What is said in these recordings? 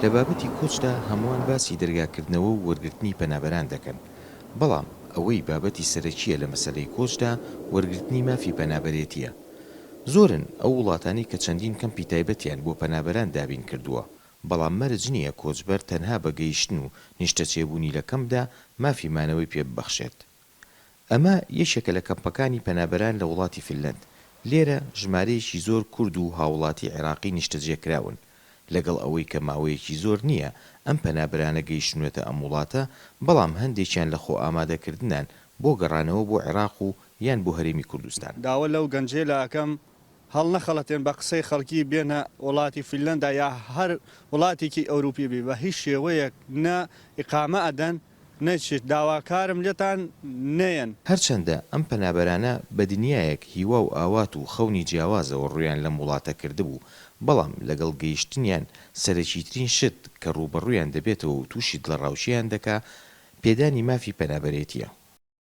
لە بابەتی کۆچدا هەمووان باسی دەرگاکردنەوە و وەرگرتنی پەنابەران دەکەن، بەڵام ئەوەی بابەتی سەرەکییە لە مەسەلەی کۆچدا وەرگرتنی مافی پەنابەرێتییە. زۆرن ئەو وڵاتانەی کە چەندین کەمپی تایبەتیان بۆ پەنابەران دابین کردووە، بەڵام مەرج نییە کۆچبەر تەنها بە گەیشتن و نیشتەجێبوونی لە کەمپدا مافی مانەوەی پێ ببەخشێت. ئەمە یەکێکە لە کەمپەکانی پەنابەران لە وڵاتی فنلەند، لێرە ژمارەیەکی زۆر کورد و هاوڵاتی عێراقی نیشتەجێکراون، لەگەڵ ئەوەی کە ماوەیەکی زۆر نییە ئەم پەنابەرانە گەیشتوونەتە ئەم وڵاتە، بەڵام هەندێکیان لە خۆئامادەکردنان بۆ گەڕانەوە بۆ عێراق و یان بۆ هەرێمی کوردستان. داوا لەو گەنجەیلە ئەکەم هەڵنەخەڵەتێن بە قسەی خەڵکی بێنە وڵاتی فنلەندا یا هەر وڵاتێکی ئەوروپی بی بە هیچ شێوەیەک نە ئیقامە ئەدەن نەچیت داواکارم لێتان نەیەن. هەرچەندە ئەم پەنابەرانە بە دنیایەک هیوا و ئاوات و خەونی جیاوازەوە ڕوویان لەم وڵاتە کردبوو، بەڵام لەگەڵ گەیشتنیان سەرەکیترین شت کە ڕووبەڕوویان دەبێتەوە و تووشی دڵەڕاوکێیان دەکا، پێدانی مافی پەنابەرێتییە.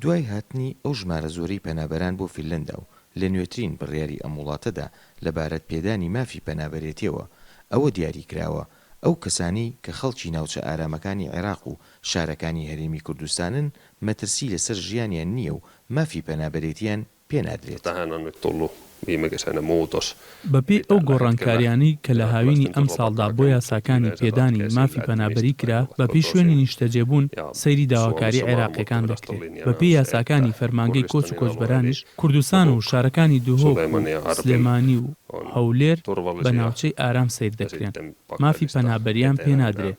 دوای هاتنی ئەو ژمارە زۆرەی پەنابەران بۆ فینلەندا و لە نوێترین بڕیاری ئەم وڵاتەدا لەبارەت پێدانی مافی پەنابەرێتیەوە، ئەوە دیاری کراوە ئەو کەسانەی کە خەڵکی ناوچە ئارامەکانی عێراق و شارەکانی هەرێمی کوردستانن مەترسی لەسەر ژیانیان نییە و مافی پەنابەرێتیان پێ نادرێت. بەپێی ئەو گۆڕانکارییانەی کە لە هاوینی ئەمساڵدا بۆ یاساکانی پێدانی مافی پەنابەری کرا، بەپێی شوێنی نیشتەجێبوون سەیری داواکاری عێراقییەکان دەکرێت. بەپێی یاساکانی فەرمانگەی کۆچ و کۆچبەرانیش، کوردستان و شارەکانی دهۆک و سلێمانی و هەولێر بە ناوچەی ئارام سەیر دەکرێن، مافی پەنابەرییان پێ نادرێت.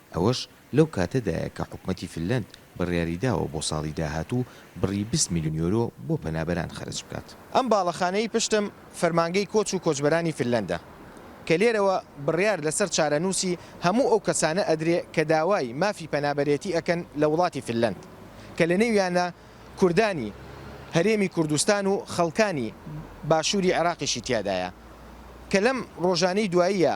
ئەوەش لەو کاتەدایە کە حکومەتی فنلەند بڕیاریداوە بۆ ساڵی داهاتوو بڕی بیست ملیۆن یۆرۆ بۆ پەنابەران خەرج بکات. ئەم باڵەخانەی پشتم فەرمانگەی کۆچ و کۆچبەرانی فنلەندە کە لێرەوە بڕیار لەسەر چارەنووسی هەموو ئەو کەسانە ئەدرێ کە داوای مافی پەنابەرێتی ئەکەن لە وڵاتی فنلەند کە لەنێویانە کوردانی هەرێمی کوردستان و خەڵکانی باشووری عێراقیشی تیادایە کە لەم ڕۆژانەی دواییە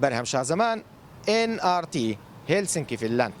بەرهەم شازەمان، ئێن ئاڕ تی، هێلسنکی فینلاند.